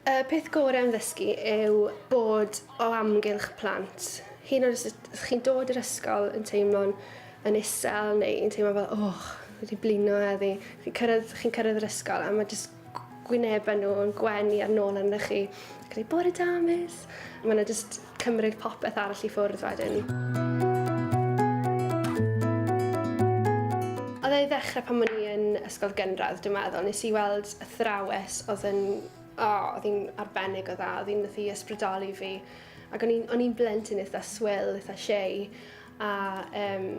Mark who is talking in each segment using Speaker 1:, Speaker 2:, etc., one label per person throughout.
Speaker 1: Y peth gorau am ddysgu yw bod o amgylch plant. Hyn oes ydych chi'n dod i'r ysgol yn teimlo'n yn isel neu yn teimlo fel, oh, wedi blino heddi. Chi'n cyrraedd, chi'n cyrraedd yr ysgol a mae jyst gwynebau nhw yn gwenu ar nôl arnoch chi. Ac yn bore da, miss. Mae nhw just cymryd popeth arall i ffwrdd wedyn. Oedd ei ddechrau pan o'n i yn ysgol gynradd, dwi'n meddwl. Nes i weld athrawes oedd yn... O, oh, oedd hi'n arbennig o dda. Oedd hi'n nath i ysbrydoli fi. Ac o'n i'n blentyn eitha swil, eitha shei. A um,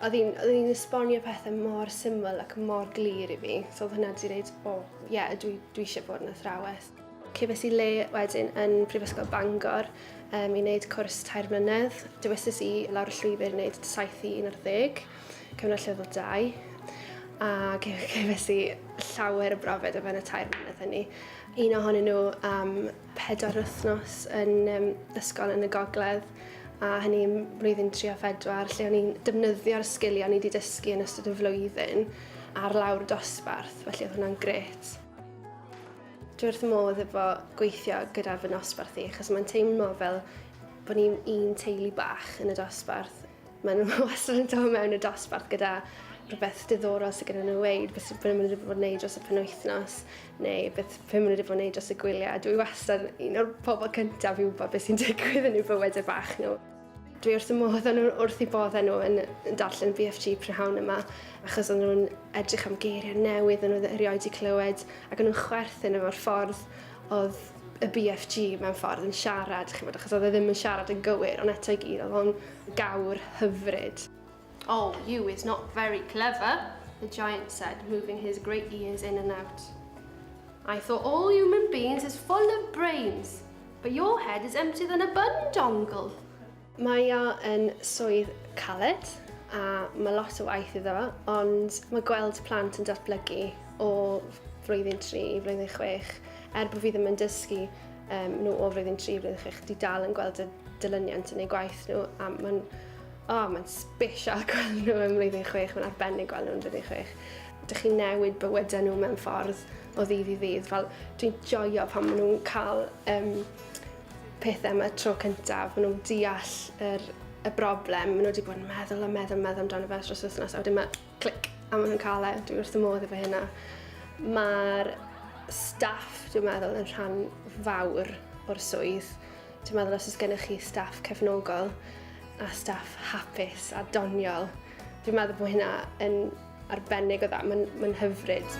Speaker 1: oedd hi'n esbonio pethau mor syml ac mor glir i fi. So oedd hwnna wedi dweud, o, oh, ie, yeah, dwi, dwi eisiau bod yn athrawes. Cefes i le wedyn yn Prifysgol Bangor um, i wneud cwrs tair mlynedd. Dywesus i lawr y llwybr i wneud 7 i 11, cyfnod llefydd 2. A cefes i llawer o brofed o fewn y tair mlynedd hynny. Un ohonyn nhw um, pedwar wythnos yn um, ysgol yn y gogledd, a hynny yn blwyddyn 3 a 4, lle o'n i'n defnyddio'r sgiliau o'n i wedi dysgu yn ystod y flwyddyn ar lawr dosbarth, felly oedd hwnna'n gret. Dwi wrth modd efo gweithio gyda fy nosbarth i, achos mae'n teimlo fel bod ni'n un teulu bach yn y dosbarth. Mae nhw wastad yn dod mewn y dosbarth gyda rhywbeth diddorol sydd gyda nhw weid, beth maen nhw wedi bod yn neud dros y penwythnos, neu beth maen nhw wedi bod yn neud dros y gwyliau. Dwi wastad un o'r pobl cyntaf i wybod beth sy'n digwydd yn eu bywydau bach nhw. Dwi wrth y modd o'n nhw'n wrth i bodda nhw yn darllen BFG prynhawn yma, achos o'n nhw'n edrych am geiriau newydd o'n nhw erioed wedi clywed, ac o'n nhw'n chwerthin efo'r ffordd Oedd y BFG mewn ffordd yn siarad, chi'n gwybod, achos oedd e ddim yn siarad yn gywir, ond eto i gyd, oedd o'n gawr hyfryd. Oh, you is not very clever, the giant said, moving his great ears in and out. I thought all human beings is full of brains, but your head is emptier than a bun dongle. Mae o yn swydd caled a mae lot o waith iddo fo, ond mae gweld plant yn datblygu o flwyddyn 3 i flwyddyn 6, er bod fi ddim yn dysgu um, nhw o flwyddyn 3 i flwyddyn 6, di dal yn gweld y dilyniant yn ei gwaith nhw, a mae'n oh, mae'n special gweld nhw yn flwyddyn 6, mae'n arbennig gweld nhw yn flwyddyn 6. Dych chi'n newid bywydau nhw mewn ffordd o ddydd i ddydd. Fel, dwi'n joio pan maen nhw'n cael um, pethau am y tro cyntaf, maen nhw'n deall yr, y broblem, maen nhw wedi bod yn meddwl a meddwl a meddwl amdano fe dros wythnos, a wedyn mae clic, a maen nhw'n cael e, dwi'n wrth y modd efo hynna. Mae'r staff, dwi'n meddwl, yn rhan fawr o'r swydd. Dwi'n meddwl os oes gennych chi staff cefnogol a staff hapus a doniol, dwi'n meddwl bod hynna yn Arbennig o dda, mae'n ma hyfryd.